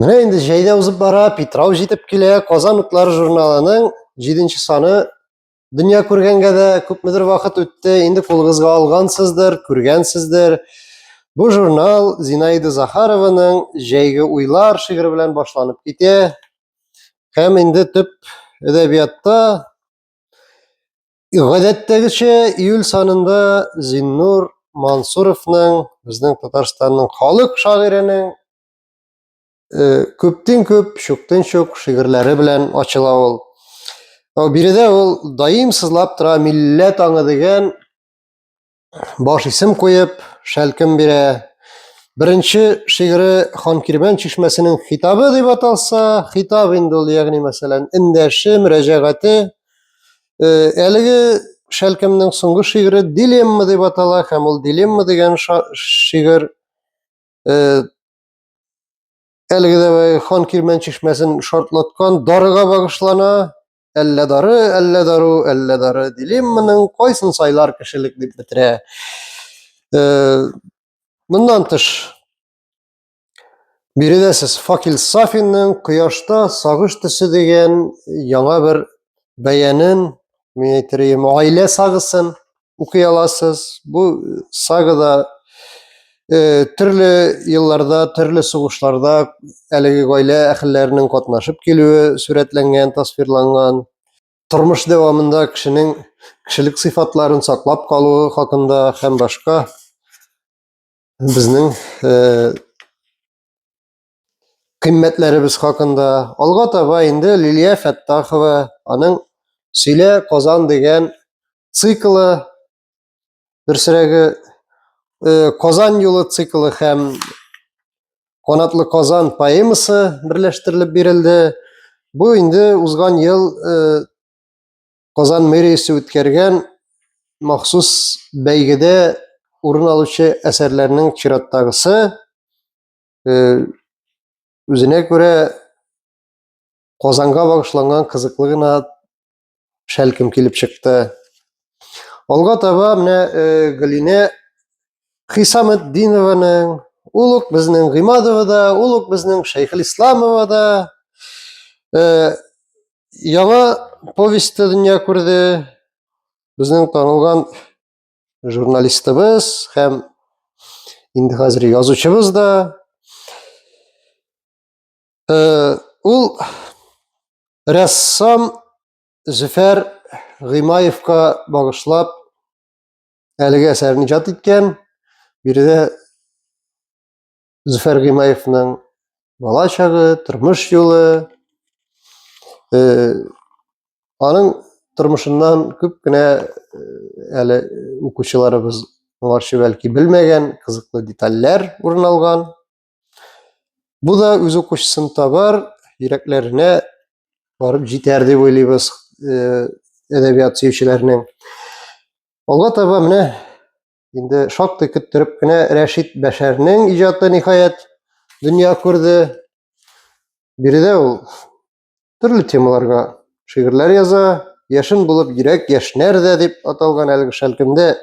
Менә инде җәй дә узып бара, Питрау җитеп килә. Казан утлары журналының 7 нче саны дөнья күргәнгә дә күпмедер вакыт үтте. Инде кулыгызга алгансыздыр, күргәнсездер. Бу журнал Зинаида Захарованың Җәйге уйлар шигыре белән башланып китә. Һәм инде төп әдәбиятта гадәттәгечә июль санында Зиннур Мансуровның, безнең Татарстанның халык шагыйренең күптен күп, шуктен шук шигырьләре белән ачыла ул. Биредә ул даим сызлап тора милләт аңы дигән баш исем куеп, шәлкем бирә. Беренче шигыре Ханкирмән чишмәсенең хитабы дип аталса, хитаб инде ул, ягъни мәсәлән, эндәше, мөрәҗәгате. Әлеге шәлкемнең соңгы шигыре Дилемма дип атала һәм ул Дилемма дигән шигырь э, әлеге дә э, хан кирмән чишмәсен шартлаткан дарыга багышлана әллә дары әллә дару әллә дары дилемманың кайсын сайлар кешелек дип бетерә э, моннан тыш биредә сез факил сафинның кояшта сагыш төсе дигән яңа бер бәянен мен әйтер идем гаилә сагысын укый аласыз. Бу э, сагада э, төрле елларда, төрле сугышларда әлеге гаилә әхелләренең катнашып килүе сурәтләнгән, тасвирланган. Тормыш дәвамында кешенең кешелек сыйфатларын саклап калуы хакында һәм башка безнең э, кыйммәтләребез хакында. Алга таба инде Лилия Фәттахова аның Сөйлә Казан дигән циклы, дөресрәге э, Казан юлы циклы һәм Канатлы Казан поэмасы берләштерелеп бирелде. Бу инде узган ел э, Казан мэриясе үткәргән махсус бәйгедә урын алучы әсәрләрнең чираттагысы. э, үзенә күрә Казанга багышланган кызыклы гына шәлкем килеп чыкты. Алга таба менә э, Галинә Хисаметдинованың, ул ук безнең Гыймадова да, ул ук безнең Шәйхел Исламова да э, яңа повестьта дөнья күрде. Безнең танылган журналистыбыз һәм инде хәзер язучыбыз да э, ул рәссам зөфәр гыймаевка багышлап әлеге әсәрен иҗат иткән биредә Зөфәр Гыймаевның бала чагы, тормыш юлы, э, аның тормышыннан күп кенә э, әле укучыларыбыз моңарчы бәлки белмәгән кызыклы детальләр урын алган. Бу да үз укучысын табар, йөрәкләренә барып җитәр дип уйлыйбыз э, әдәбият сөючеләрнең. Алга таба менә Инде шактый көттереп кенә Рәшит Бәшәрнең иҗаты ниһаять дөнья күрде. Биредә ул төрле темаларга шигырьләр яза, яшен булып йөрәк яшнәр дә дип аталган әлеге шәлкемдә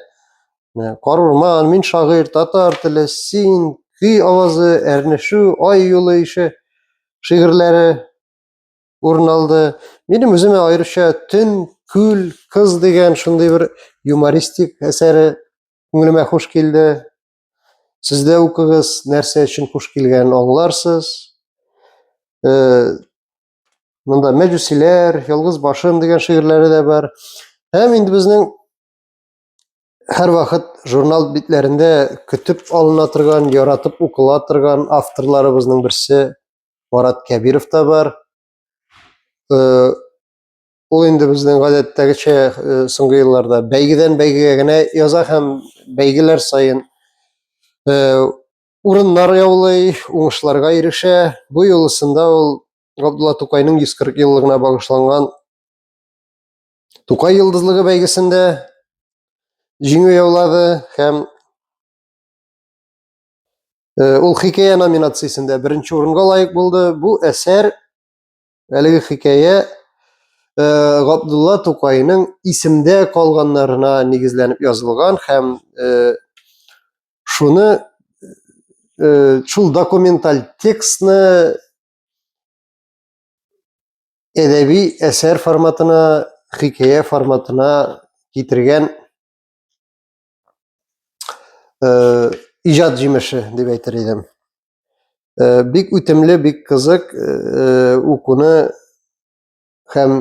Кар урман, мин шагыйрь, татар теле, син, көй авазы, әрнешү, ай юлы ише шигырьләре урын алды. Минем үземә аеруча Төн, күл, кыз дигән шундый бер юмористик әсәре күңелемә хуш килде. Сез дә укыгыз, нәрсә өчен хуш килгәнен аңларсыз. Э, монда Мәҗүсиләр, Ялгыз башым дигән шигырьләре дә бар. Һәм инде безнең һәр вакыт журнал битләрендә көтеп алына торган, яратып укыла торган авторларыбызның берсе Марат Кәбиров та бар. Э, ул инде безнең гадәттәгечә э, соңгы елларда бәйгедән бәйгегә генә яза һәм бәйгеләр саен э, урыннар яулый, уңышларга ирешә. Бу юлысында ул Габдулла Тукайның 140 еллыгына багышланган Тукай йолдызлыгы бәйгесендә җиңү яулады һәм Э, ул хикәя номинациясендә беренче урынга лаек булды. Бу әсәр әлеге хикәя э, Габдулла Тукайның исемдә калганнарына нигезләнеп язылган һәм э, шуны шул документаль текстны әдәби әсәр форматына, хикәя форматына китергән э, иҗат җимеше дип әйтер идем. Э, бик үтемле, бик кызык э, укуны һәм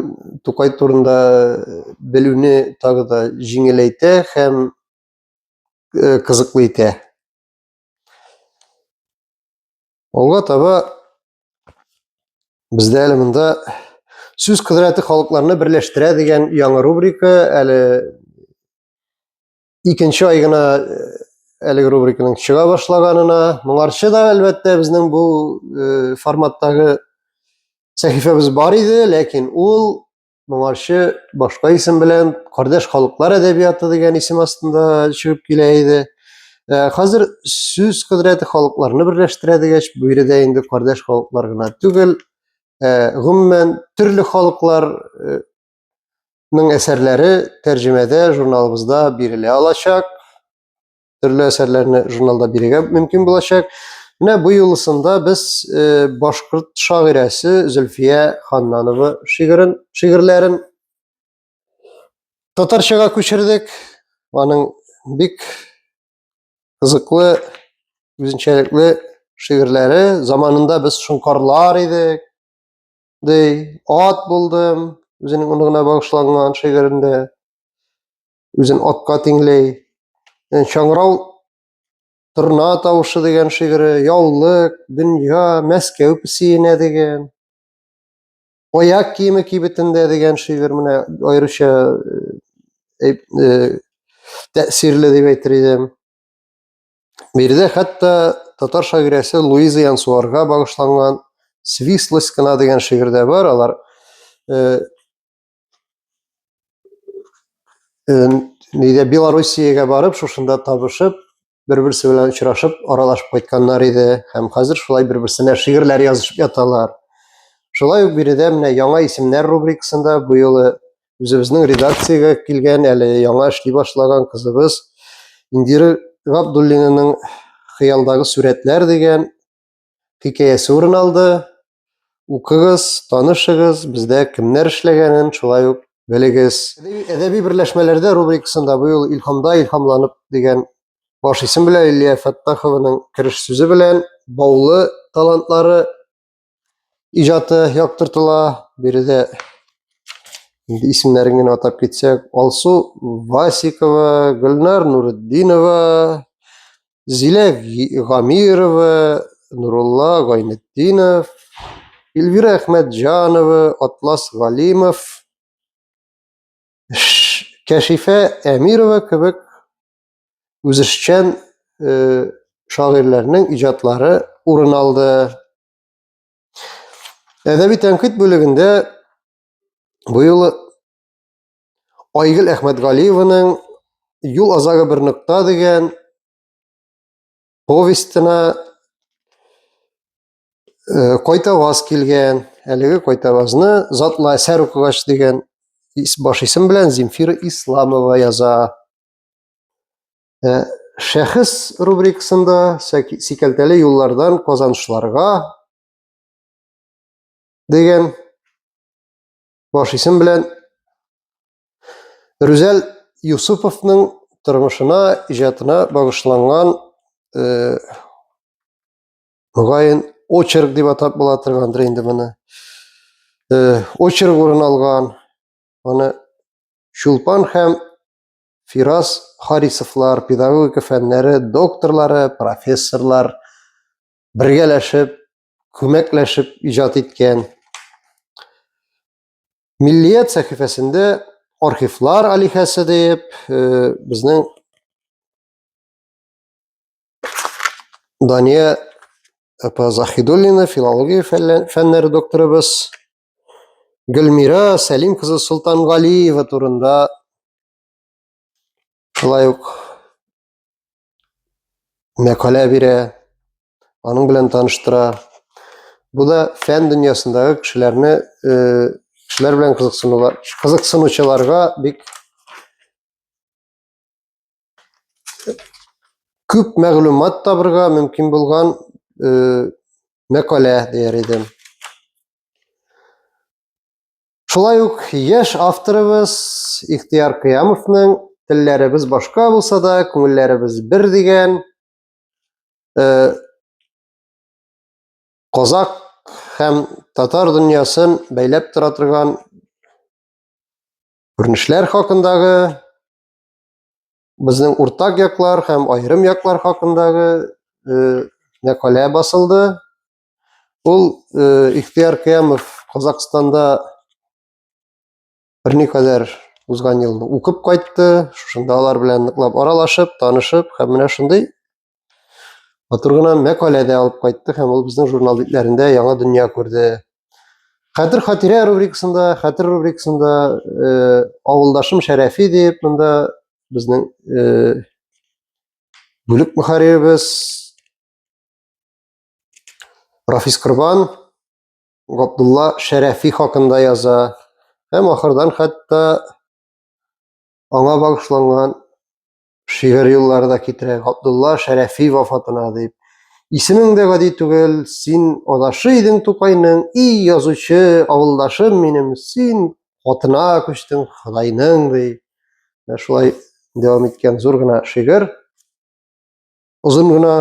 Тукай турында белүне тагы да җиңеләйтә һәм э, кызыклы итә. Алга таба бездә әле монда сүз кодрәте халыкларны берләштерә дигән яңа рубрика әле икенче ай гына әлеге рубриканың чыга башлаганына моңарчы да әлбәттә безнең бу э, форматтагы сәхифәбез бар иде ләкин ул моңарчы башка исем белән кардәш халыклар әдәбияты дигән исем астында чыгып килә иде э, хәзер сүз кодрәте халыкларны берләштерә дигәч бу биредә инде кардәш халыклар гына түгел э, гомумән төрле халыклар Ның әсәрләре тәрҗемәдә журналыбызда бирелә алачак. Төрле әсәрләрне журналда бирергә мөмкин булачак. Менә бу юлысында без э, башкорт шагыйрәсе Зөлфия Ханнанова шигырен, шигырьләрен татарчага күчердек. Аның бик кызыклы, үзенчәлекле шигырьләре. Заманында без шыңкарлар идек. дей, ат булдым, үзенең оныгына багышланган шигырендә үзен атка тиңләй. Э, Чаңрау торна тавышы дигән шигыре, яулык, дөнья, Мәскәү песиенә дигән. Аяк киеме кибетендә дигән шигырь менә аеруча э, э, тәэсирле дип әйтер идем. Биредә хәтта татар шагыйрәсе Луиза Янсуарга багышланган Свислость кына дигән шигырь дә бар. Алар э, э, нидә Белоруссиягә барып, шушында табышып, бер-берсе белән очрашып, аралашып кайтканнар иде һәм хәзер шулай бер-берсенә шигырьләр язышып яталар. Шулай ук биредә менә яңа исемнәр рубрикасында бу юлы үзебезнең редакциягә килгән әле яңа эшли башлаган кызыбыз индира габдуллинаның хыялдагы сурәтләр дигән хикәясе урын алды укыгыз танышыгыз бездә кемнәр эшләгәнен шулай ук белегез әдәби берләшмәләрдә рубрикасында быел илһамда илһамланып дигән баш исем белән илия фәттахованың кереш сүзе белән баулы талантлары иҗаты яктыртыла. Биредә инде исемнәрен генә атап китсәк, Алсу Васикова, Гөлнар Нуретдинова, Зилә Гамирова, Нурулла Гайнетдинов, Эльвира Әхмәтҗанова, Атлас Галимов, Кәшифә Әмирова кебек үзешчән э, шагыйрьләрнең иҗатлары урын алды. Әдәби тәнкыйть бүлегендә быел Айгөл Әхмәтгалиеваның Юл азагы бер нокта дигән повестена э, кайтаваз килгән. Әлеге кайтавазны Затлы әсәр укыгач дигән баш исем белән Земфира Исламова яза. Ә, шәхес рубрикасында сикәлтәле юллардан казанышларга дигән баш исем белән Рүзәл Юсуповның тормышына, иҗатына багышланган э, мөгаен очерк дип атап була торгандыр инде моны. Э, очерк урын алган, аны Чулпан һәм Фирас Харисовлар, педагогика фәннәре докторлары, профессорлар бергәләшеп, күмәкләшеп иҗат иткән. Миллият сәхифәсендә архивлар алихәсе диеп, э, безнең Дания апа Захидуллина, филология фәннәре докторыбыз Гөлмира Сәлим кызы Солтангалиева турында шулай ук мәкалә бирә, аның белән таныштыра. Бу да фән дөньясындагы кешеләрне кешеләр белән кызыксынулар, кызыксынучыларга бик күп мәгълүмат табырга мөмкин булган э, мәкалә дияр идем. Шулай ук яшь авторыбыз Ихтияр Кыямовның телләребез башка булса да, күңелләребез бер дигән э, Казак һәм татар дөньясын бәйләп тора торган күренешләр хакындагы безнең уртак яклар һәм аерым яклар хакындагы э, мәкалә басылды. Ул э, Ихтияр Кыямов Казахстанда берникадәр узган елны укып кайтты, шушында алар белән ныклап аралашып, танышып, һәм менә шундый матур гына мәкалә дә алып кайтты һәм ул безнең журнал битләрендә яңа дөнья күрде хәтер хатирә рубрикасында хәтер рубрикасында э, авылдашым шәрәфи дип монда безнең э, бүлек мөхәрриребез рафис корбан габдулла шәрәфи хакында яза һәм ахырдан хәтта аңа багышланган шигырь юллары да китерә. Габдулла Шәрәфи вафатына дип. Исемең дә гади түгел, син адашы идең Тукайның, и язучы, авылдашым минем, син хатына күчтең Худайның ди. Менә шулай дәвам иткән зур гына шигырь. Озын гына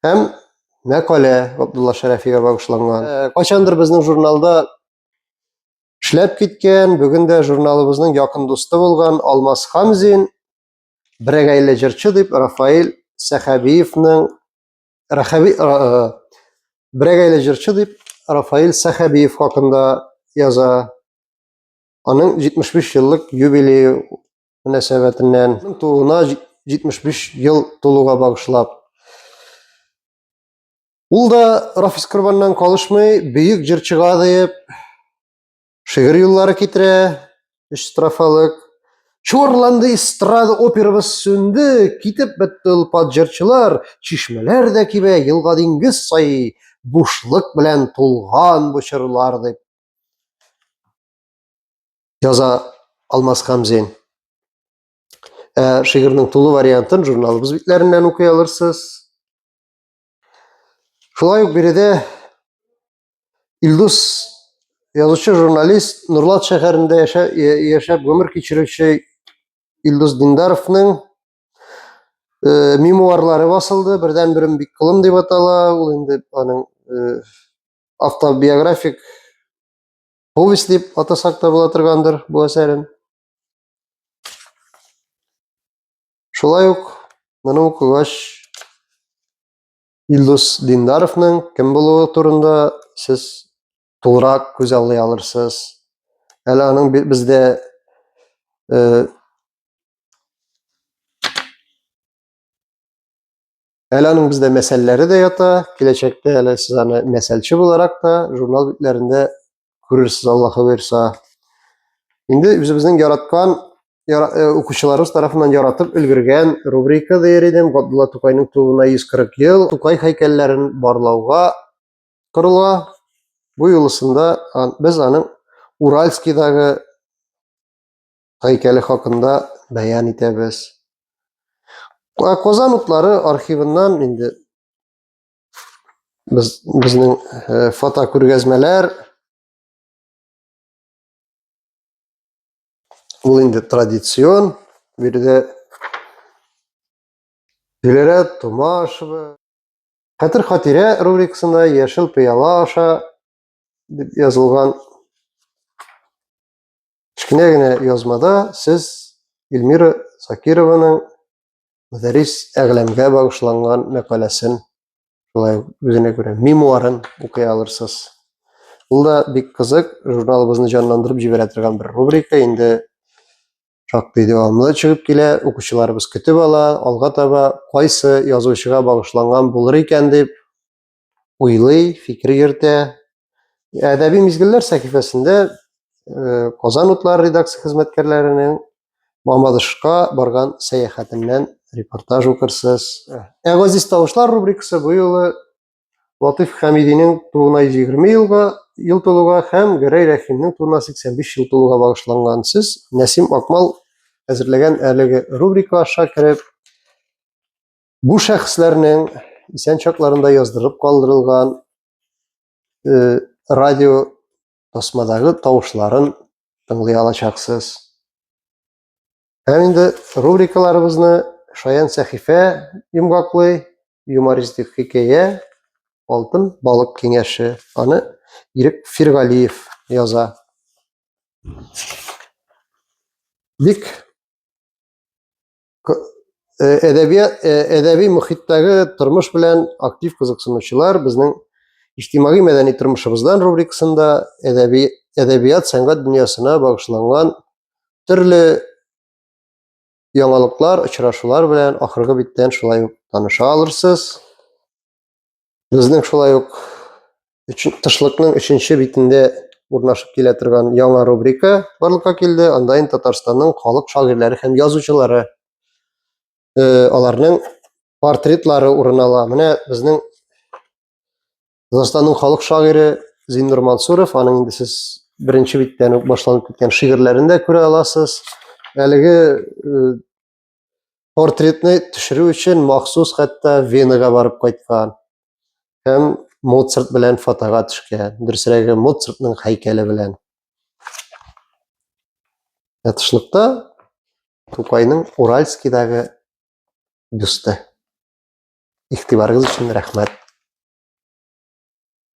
һәм мәкалә Габдулла Шәрәфигә багышланган. Э, кайчандыр безнең журналда Эшләп киткән, бүген дә журналыбызның якын дусты булган Алмаз Хамзин, берәгәйле җырчы дип Рафаил Сәхәбиевның Рахаби берәгәйле җырчы дип Рафаил Сәхәбиев хакында яза. Аның 75 еллык юбилее мөнәсәбәтеннән тууына 75 ел тулуга багышлап Ул да Рафис Корбаннан калышмый, бөек җырчыга диеп шигырь юллары китерә, өч строфалык. Чорланды эстрада операбыз сүнде, китеп бетте олпат җырчылар, чишмәләр дә кибә, елга диңгез саи, бушлык белән тулган бу чорлар дип яза Алмаз Хамзин. Ә шигырьнең тулы вариантын журналыбыз битләреннән укый алырсыз. Шулай ук биредә Илдус язучы журналист Нурлат шәһәрендә яшәп гомер кичерүче Илдус Диндаровның э, мемуарлары басылды. Бердән берем бик кылым дип атала. Ул инде аның э, автобиографик повесть дип атасак та була торгандыр бу әсәрен. Шулай ук моны укыгач Илдус Диндаровның кем булуы турында сез тулырак күз аллый алырсыз. Әле аның бездә э, Әле аның бездә мәсәлләре дә ята, киләчәктә әле сез аны мәсәлче буларак та журнал битләрендә күрерсез, Аллаһы боерса. Инде үзебезнең яраткан яра, э, укучыларыбыз тарафыннан яратып өлгергән рубрика дияр идем. Габдулла Тукайның тууына 140 ел. Тукай һәйкәлләрен барлауга корыла. Бу юлысында без аның Уральскийдагы һәйкәле хакында бәян итәбез. Казан утлары архивыннан инде без безнең э, фото күргәзмәләр ул инде традицион биредә Гөләра Томашева Хәтер хатирә рубрикасында яшел пыяла аша дип язылган Кечкенә генә язмада сез Эльмира Закированың Мөдәррис әгъләмгә багышланган мәкаләсен, шулай үзенә күрә мемуарын укый алырсыз. Ул да бик кызык, журналыбызны җанландырып җибәрә торган бер рубрика, инде шактый дәвамлы чыгып килә, укучыларыбыз көтеп ала, алга таба кайсы язучыга багышланган булыр икән дип уйлый, фикер йөртә. Әдәби мизгелләр сәхифәсендә э, Казан утлары редакция хезмәткәрләренең Мамадышка барган сәяхәтеннән репортаж укырсыз. Ә газиз тавышлар рубрикасы бу юлы Латыйф Хәмидинең тууына 120 елга ел тулуга һәм Гәрәй Рәхимнең тууына 85 ел тулуга багышланган. Сез Нәсим Акмал әзерләгән әлеге рубрика аша кереп Бу шәхесләрнең исән чакларында яздырып калдырылган э, радио тасмадагы тавышларын тыңлый алачаксыз. Һәм инде рубрикаларыбызны Шаян сәхифә йомгаклы юмористик хикәя Алтын балык киңәше. Аны Ирек Фиргалиев яза. Бик Э, әдәбият э, әдәби мөхиттәге тормыш белән актив кызыксынучылар безнең иҗтимагый мәдәни тормышыбыздан рубрикасында әдәби әдәбият сәнгать дөньясына багышланган төрле яңалыклар, очрашулар белән ахыргы биттән шулай ук таныша алырсыз. Безнең шулай ук тышлыкның өченче битендә урнашып килә торган яңа рубрика барлыкка килде. Анда инде Татарстанның халык шагыйрьләре һәм язучылары э, аларның портретлары урын ала. Менә безнең Татарстанның халык шагыйре Зиннур Мансуров, аның инде сез беренче биттән үк башланып киткән шигырьләрен дә күрә аласыз. Әлеге э, портретны төшерү өчен махсус хәтта Венага барып кайткан һәм Моцарт белән фотога төшкән. Дөресрәге Моцартның һәйкәле белән. Ятышлыкта Тукайның Уральскийдагы бюсты. Игътибарыгыз өчен рәхмәт.